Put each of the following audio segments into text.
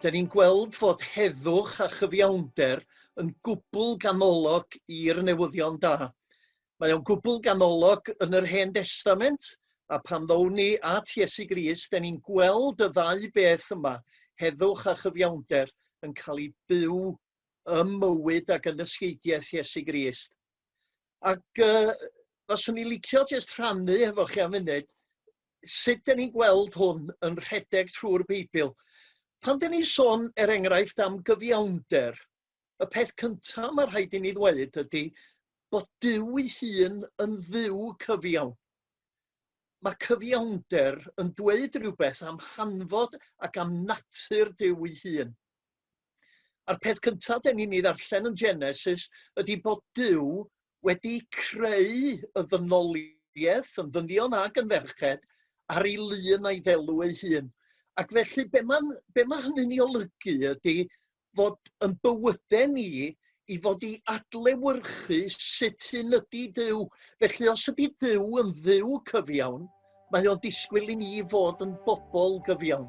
'Da ni'n gweld fod heddwch a chyfiawnder yn gwbl ganolog i'r newyddion da. Mae o'n gwbl ganolog yn yr Hen Destament, a pan ddown ni at Iesu Grist, 'da ni'n gweld y ddau beth yma, heddwch a chyfiawnder, yn cael eu byw ym mywyd ac yn ysgeidiaeth Iesu Grist. Ac yy faswn i'n licio jyst rhannu hefo chi am funud sut 'dan ni'n gweld hwn yn rhedeg trwy'r Beibl. Pan 'dan ni'n sôn, er enghraifft, am gyfiawnder, y peth cyntaf mae rhaid i ni ddweud ydy bod Duw ei hun yn dduw cyfiawn. Mae cyfiawnder yn dweud rhywbeth am hanfod ac am natur Duw ei hun. A'r peth cyntaf den ni'n ei ddarllen yn Genesis ydy bod Duw wedi creu y ddynoliaeth yn ddynion ag yn ferched ar ei lun a'i ddelw ei hun. Ac felly be mae, be mae hynny'n ei olygu ydy fod yn bywydau ni i fod i adlewyrchu sut hyn ydy Duw. Felly os ydy Duw yn dduw cyfiawn, mae o'n disgwyl i ni fod yn bobl gyfiawn.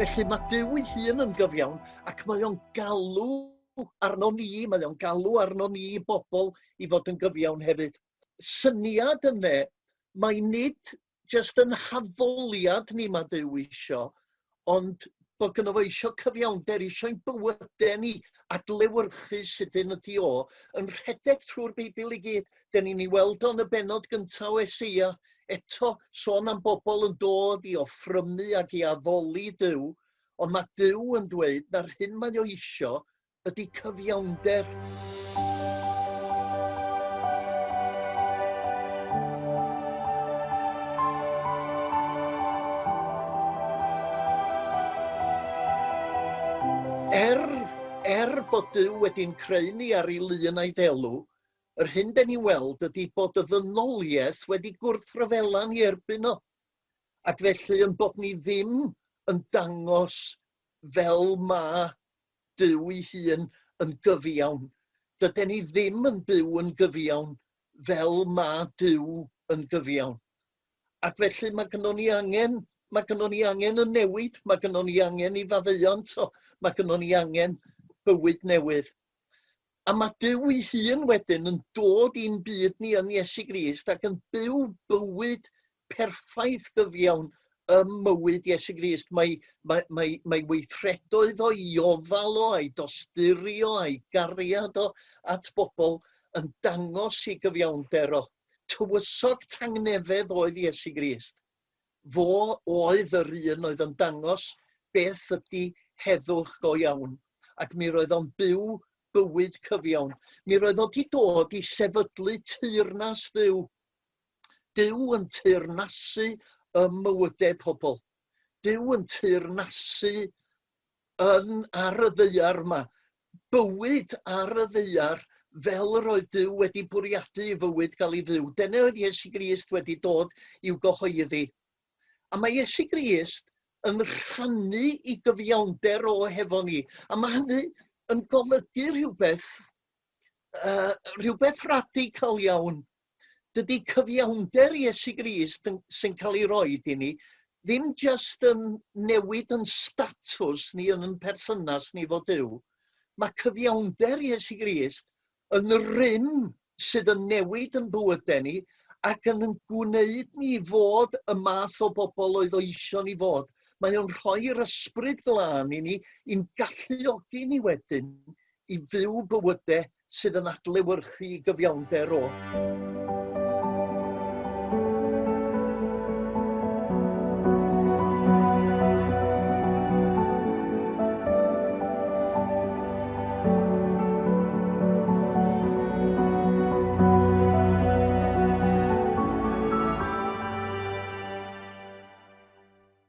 Felly mae Duw ei hun yn gyfiawn ac mae o'n galw arno ni, mae o'n galw arno ni bobl i fod yn gyfiawn hefyd. Syniad yne, mae nid jyst yn haddoliad ni ma' Duw isio, ond bo' gynno fo isio cyfiawnder, isio ein bywyde ni adlewyrchu sut un ydi o, yn rhedeg trwy'r Beibl i gyd. 'Den ni'n ei weld o yn y bennod gynta o Eseia, eto sôn am bobl yn dod i offrymu ac i addoli Duw, ond ma' Duw yn dweud na'r hyn mae o isio ydy cyfiawnder. Er, er bod Dyw wedi'n creu ni ar ei lun a'i ddelw, yr hyn den ni weld ydy bod y ddynoliaeth wedi gwrthryfela ni erbyn o, ac felly yn bod ni ddim yn dangos fel mae Duw'i hun yn gyfiawn. Dyden ni ddim yn byw yn gyfiawn fel ma' Duw yn gyfiawn. Ac felly ma' gynnon ni angen ma' gynnon ni angen y newid, ma' gynnon ni angen i faddeuant o, ma' gynnon ni angen bywyd newydd. A mae Duw'i hun wedyn yn dod i'n byd ni yn Iesu Grist ac yn byw bywyd perffaith gyfiawn ym mywyd Iesu Grist. Mae, mae, mae, mae weithredoedd o'i ofal o, a'i dosturio, a'i gariad o at bobl yn dangos i gyfiawnder o. Tywysog tangnefedd oedd Iesu Grist. Fo oedd yr un oedd yn dangos beth ydi heddwch go iawn, ac mi roedd o'n byw bywyd cyfiawn. Mi roedd o wedi dod i sefydlu teyrnas Dduw. Duw yn teyrnasu ym mywydau pobl. Duw yn teyrnasu yn ar y ddaear yma, bywyd ar y ddaear fel yr oedd Duw wedi bwriadu i fywyd gael ei fyw. Dyna oedd Iesu Grist wedi dod i'w gyhoeddi. A mae Iesu Grist yn rhannu i gyfiawnder o hefo ni. A mae hynny yn golygu rhywbeth, uh, rhywbeth radical iawn Dydy cyfiawnder Iesu Grist yn, sy'n cael ei roed i ni ddim jyst yn newid yn statws ni yn yn perthynas ni fod Duw. Mae cyfiawnder Iesu Grist yn rym sydd yn newid yn bywydau ni ac yn yn gwneud ni fod y math o bobl oedd oesion ni fod. Mae o'n rhoi'r ysbryd glân i ni, i'n galluogi ni wedyn i fyw bywydau sydd yn adlewyrchu gyfiawnder o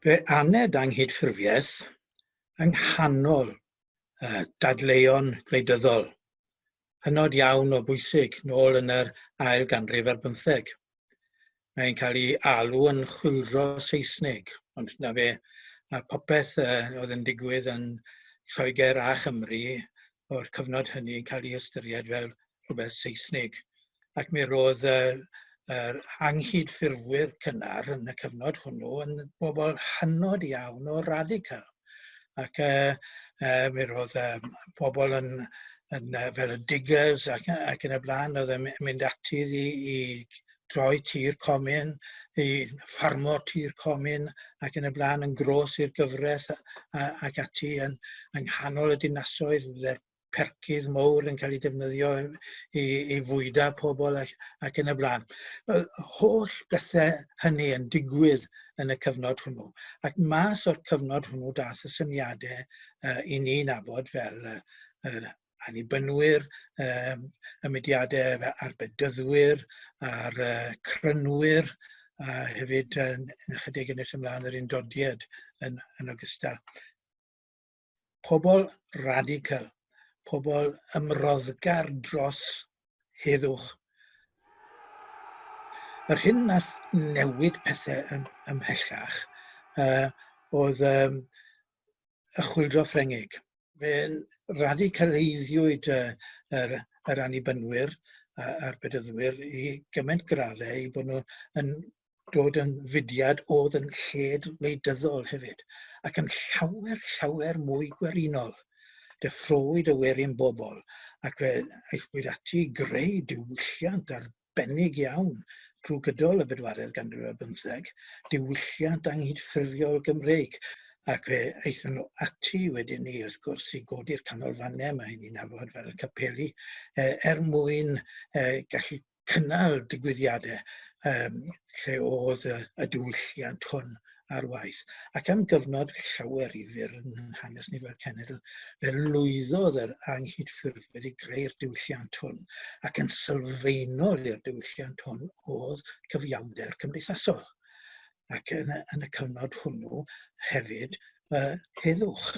Fe aned angydffurfiaeth yng nghanol uh, dadleuon gwleidyddol hynod iawn o bwysig nôl yn yr ail ganrif ar bymtheg. Mae'n cael ei alw yn chwildro Saesneg, ond na fe, a popeth uh, oedd yn digwydd yn Lloegr a Chymru o'r cyfnod hynny yn cael ei ystyried fel rhywbeth Seisnig ac mi ro'dd yy yr anghydffurfwyr cynnar yn y cyfnod hwnnw yn bobol hynod iawn o radical ac yy yy mi ro'dd yym pobol yn yn yy fel y Diggers ac yy ac yn y bla'n o'dd yn my- mynd ati i i droi tir comin i ffarmo tir comin ac yn y bla'n yn grôs i'r gyfreth a- a- ac ati yn yng nghanol y dinasoedd fydde'r percydd mowr yn cael eu defnyddio i i fwyda pobl ac ac yn y bla'n. Y holl bethe hynny yn digwydd yn y cyfnod hwnnw. Ac mas o'r cyfnod hwnnw dath y syniade uh, i ni nabod fel uh, uh, anibynwyr, um, y mudiadau a'r bedyddwyr, a'r uh, crynwyr, a hefyd yn, yn ychydig yn nes ymlaen yr undodiad yn, yn ogystal. pobl radical, pobl ymroddgar dros heddwch. Yr hyn nath newid pethau ym, ymhellach uh, oedd um, y chwildro Ffrengig. Fe'n radicaleiddiwyd uh, yr, yr anibynwyr a'r bedyddwyr i gymaint graddau i bod nhw yn dod yn fudiad oedd yn lled wleidyddol hefyd, ac yn llawer, llawer mwy gwerinol. Deffrowyd y werin bobl, ac fe aethpwyd ati i greu diwylliant arbennig iawn drwy gydol y bedwaredd ganrif ar bymtheg, diwylliant anghydffurfiol Gymreig, ac fe aethon nhw ati wedyn ni, wrth gwrs, i godi'r canolfannau mae hynny'n nabod fel y capeli, er mwyn gallu cynnal digwyddiadau um, lle oedd y, y diwylliant hwn ar waith. Ac am gyfnod llawer i fyr yn hanes ni fel cenedl, fe lwyddodd yr anghydffurfwyr i greu'r diwylliant hwn, ac yn sylfaenol i'r diwylliant hwn oedd cyfiawnder cymdeithasol. ac yn y yn y cyfnod hwnnw hefyd y heddwch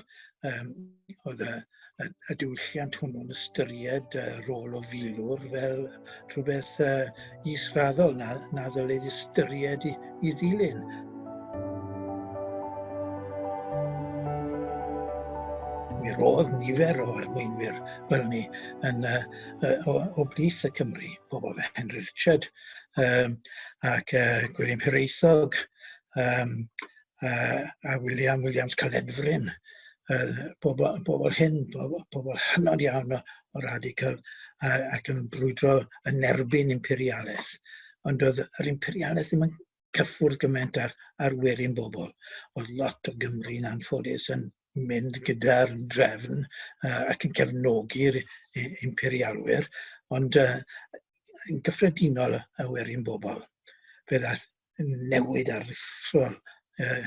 yym oedd y y y diwylliant hwnnw'n ystyried y rôl o filwr fel rhywbeth uh, israddol na, na ddylid ystyried i, i ddilyn. Mi roedd nifer o arweinwyr fel ni yn, uh, o, o blith y Cymru, pobl fe Henry Richard, um, ac uh, Gwilym Hiraethog, um, uh, a William Williams Caledfryn, uh, pobl, pobl hyn, pobl, pobl hynod iawn o, o radical uh, ac yn brwydro yn erbyn imperialaeth. Ond oedd yr imperialaeth ddim yn cyffwrdd gymaint ar, ar werin bobl. Oedd lot o Gymru yn anffodus yn mynd gyda'r drefn uh, ac yn cefnogi'r imperialwyr, ond uh, yn gyffredinol y werin bobl. Fe ddath newid aruthrol uh,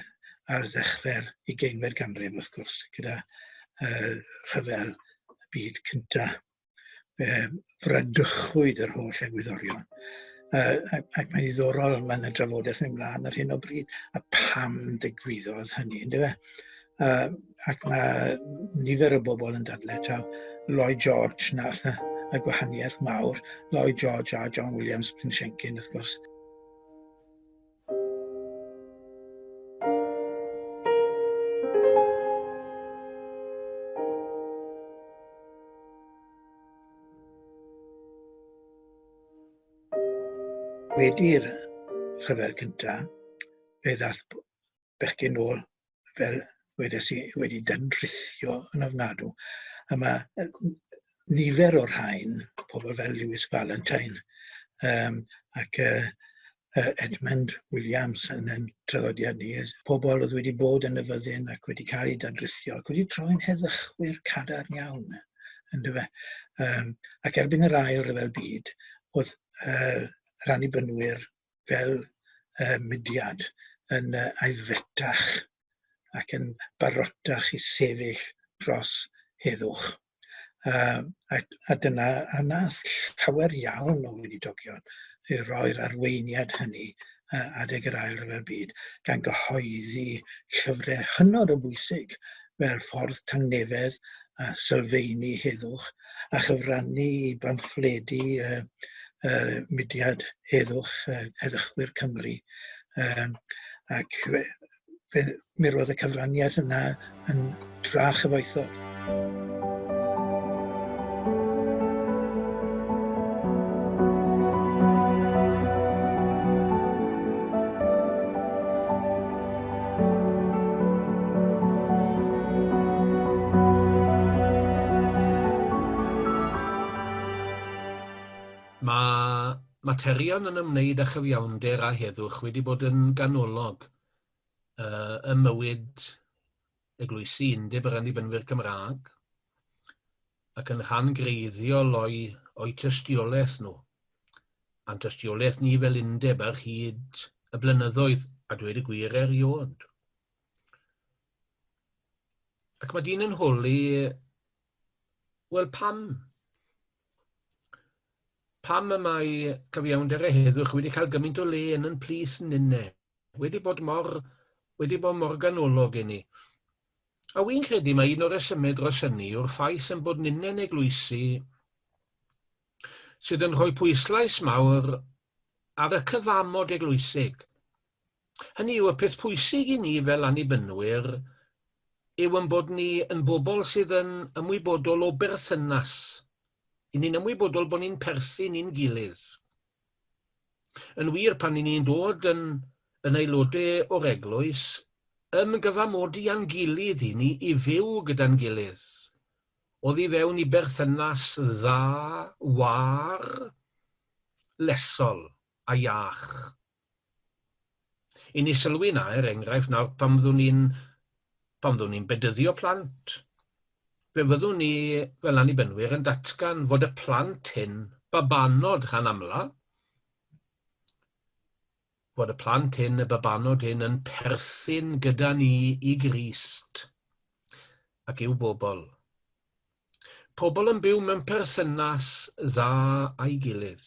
ar ddechrau'r ugeinfed ganrif, wrth gwrs, gyda uh, rhyfel y byd cyntaf. fe wrandychwyd yr holl egwyddorion. Uh, ac, ac mae'n ddiddorol, mae'n y drafodaeth yn ymlaen ar hyn o bryd, a pam ddigwyddodd hynny, ynddo fe? Uh, ac mae nifer o bobl yn dadle taw Lloyd George nath y, y gwahaniaeth mawr, Lloyd George a John Williams Pinshenkin, wrth gwrs. Wedi'r rhyfel cyntaf, fe ddaeth bechgyn ôl fel wedes i, wedi dynrithio yn ofnadw. A mae nifer o'r rhain, pobl fel Lewis Valentine um, ac uh, uh, Edmund Williams yn ein traddodiad ni, pobl oedd wedi bod yn y fyddin ac wedi cael ei dadrithio ac wedi troi'n heddychwyr cadarn iawn. Ynddo fe. Um, ac erbyn yr ail rhyfel byd, oedd uh, rannibynwyr fel yy mudiad yn yy aeddfetach ac yn barotach i sefyll dros heddwch yym a a dyna a nath llawer iawn o weinidogion yy roi'r arweiniad hynny yy adeg yr Ail Ryfel Byd gan gyhoeddi llyfre hynod o bwysig fel Ffordd Tangnefedd a sylfeini heddwch a chyfrannu i bamffledi y y mudiad heddwch yy Heddychwyr Cymru yym ac fe fe mi roedd y cyfraniad yna yn dra chyfoethog. Mae materion yn ymwneud â chyfiawnder a heddwch wedi bod yn ganolog ym mywyd Eglwysi Undeb yr Annibynwyr Cymraeg, ac yn rhan greiddiol o'u, o'u tystiolaeth nhw, a'n tystiolaeth ni fel undeb ar hyd y blynyddoedd, a dweud y gwir eriod. Ac mae dyn yn holi, wel pam? Pam y mae cyfiawnder a heddwch wedi cael gymaint o le yn yn plith ninne? wedi bod mor, wedi bod mor ganolog i ni. A wy'n credu mae un o'r resymau dros hynny yw'r ffaith yn bod ninnau'n eglwysi sydd yn rhoi pwyslais mawr ar y cyfamod eglwysig. Hynny yw, y peth pwysig i ni fel annibynnwyr yw yn bod ni yn bobl sydd yn ymwybodol o berthynas. I ni'n ymwybodol bod ni'n perthyn i'n gilydd. Yn wir, pan 'y ni'n dod yn yn aelodau o'r Eglwys, yn gyfamodi â'n gilydd i ni i fyw gyda'n gilydd, oddi fewn i berthynas dda, wâr, llesol a iach. I ni sylwi na, er enghraifft, nawr pan fyddwn ni'n pan fyddwn ni'n bedyddio plant, fe fyddwn ni, fel Annibynwyr, yn datgan fod y plant hyn, babanod gan amla, fod y plant hyn, y babanod hyn, yn perthyn gyda ni i Grist ac i'w bobl. Pobl yn byw mewn perthynas dda â'i gilydd.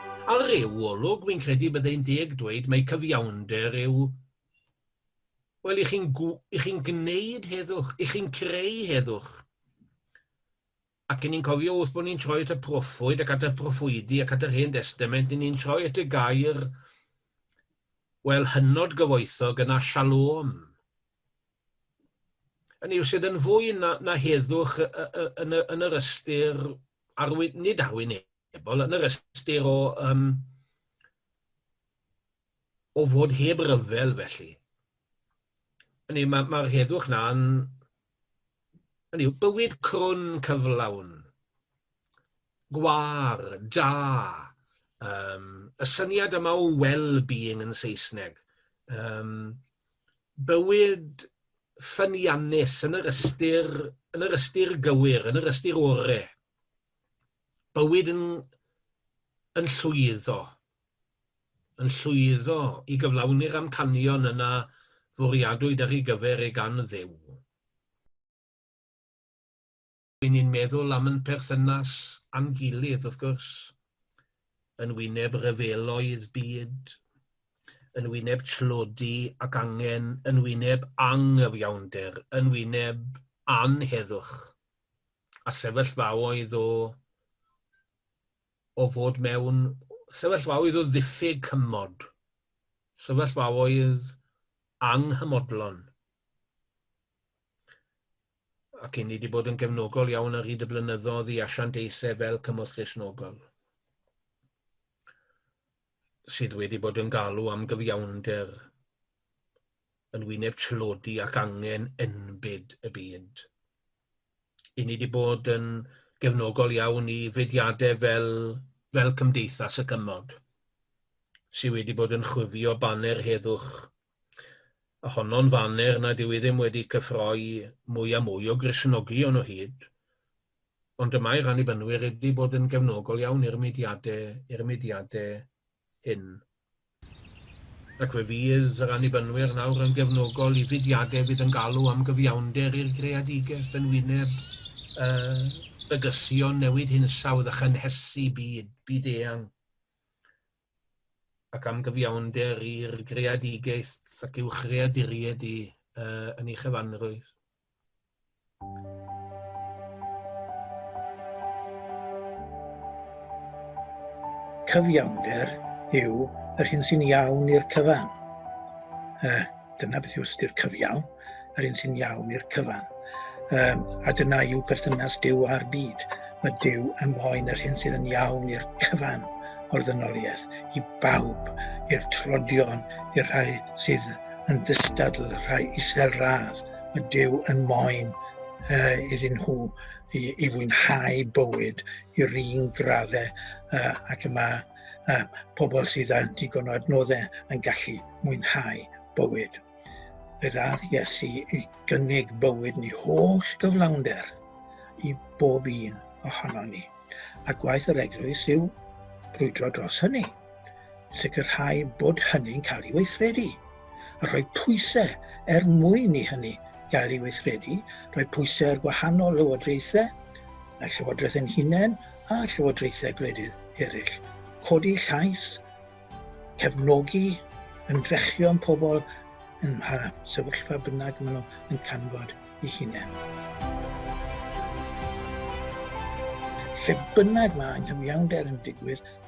Ar ryw olwg, wi'n credu byddai'n deg dweud mai cyfiawnder yw, wel, i chi'n i chi'n gwneud heddwch, i chi'n creu heddwch. Ac yn ni'n cofio wrth bod ni'n troi at y proffwyd ac at y proffwydi ac at yr Hen Destament, ni'n troi at y gair, wel, hynod gyfoethog yna, shalom. Yn yw sydd yn fwy na, na heddwch yn, yn, yn yr ystyr arwyn, nid arwyneb, Wel, yn yr ystyr o, um, o fod heb ryfel felly. Hynny, mae'r ma, ma heddwch na'n... Hynny yw, bywyd crwn cyflawn, gwar, da, um, y syniad yma o well-being yn Saesneg, um, bywyd ffyniannus yn yr ystyr, yn yr ystyr gywir, yn yr ystyr orau. bywyd yn, yn llwyddo, yn llwyddo i gyflawni'r amcanion yna fwriadwyd ar ei gyfer e gan Dduw. Ry'n ni'n meddwl am yn perthynas â'n gilydd, wrth gwrs, yn wyneb rhyfeloedd byd, yn wyneb tlodi ac angen, yn wyneb anghyfiawnder, yn wyneb anheddwch. a sefyllfaoedd o o fod mewn sefyllfaoedd o ddiffyg cymod, sefyllfaoedd anghymodlon. Ac i ni wedi bod yn gefnogol iawn ar hyd y blynyddoedd i asiantaethau fel Cymorth Gristnogol sydd wedi bod yn galw am gyfiawnder yn wyneb tlodi ac angen enbyd y byd. I ni wedi bod yn gefnogol iawn i fudiadau fel, fel Cymdeithas y Cymod, sydd wedi bod yn chwifio baner heddwch, a honno'n faner nad yw ddim wedi cyffroi mwy a mwy o Gristnogion o hyd, ond y mae'r Annibynwyr wedi bod yn gefnogol iawn i'r mudiadau, i'r mudiadau hyn. Ac fe fydd yr Annibynwyr nawr yn gefnogol i fudiadau fydd yn galw am gyfiawnder i'r greadigeth yn wyneb y bygythion newid hinsawdd a chynhesu byd byd-eang, ac am gyfiawnder i'r greadigaeth ac uwchreaduried i yn ei chyfanrwydd. Cyfiawnder yw yr hyn sy'n iawn i'r cyfan. Uh, dyna beth yw ystyr cyfiawn, yr hyn sy'n iawn i'r cyfan. Um, a dyna yw perthynas Dyw a'r byd. Mae Dyw yn moyn yr hyn sydd yn iawn i'r cyfan o'r ddynoliaeth, i bawb, i'r trodion, i'r rhai sydd yn ddistadl rhai isel radd y Duw yn moyn iddyn nhw i fwynhau bywyd i'r un graddau ac y mae pobl sydd â digon o adnoddau yn gallu mwynhau bywyd. Fe ddaeth Iesu i gynnig bywyd ni holl gyflawnder i bob un ohonon ni, a gwaith yr Eglwys yw brwydro dros hynny. sicrhau bod hynny'n cael ei weithredu a rhoi pwysau er mwyn i hynny gael ei weithredu, rhoi pwysau ar gwahanol lywodraethau, y Llywodraeth yn hunain a llywodraethau gwledydd eraill, codi llais, cefnogi ymdrechion pobl yn mha sefyllfa bynnag maen nhw yn canfod i hunain. Lle bynnag mae anghyfiawnder yn digwydd,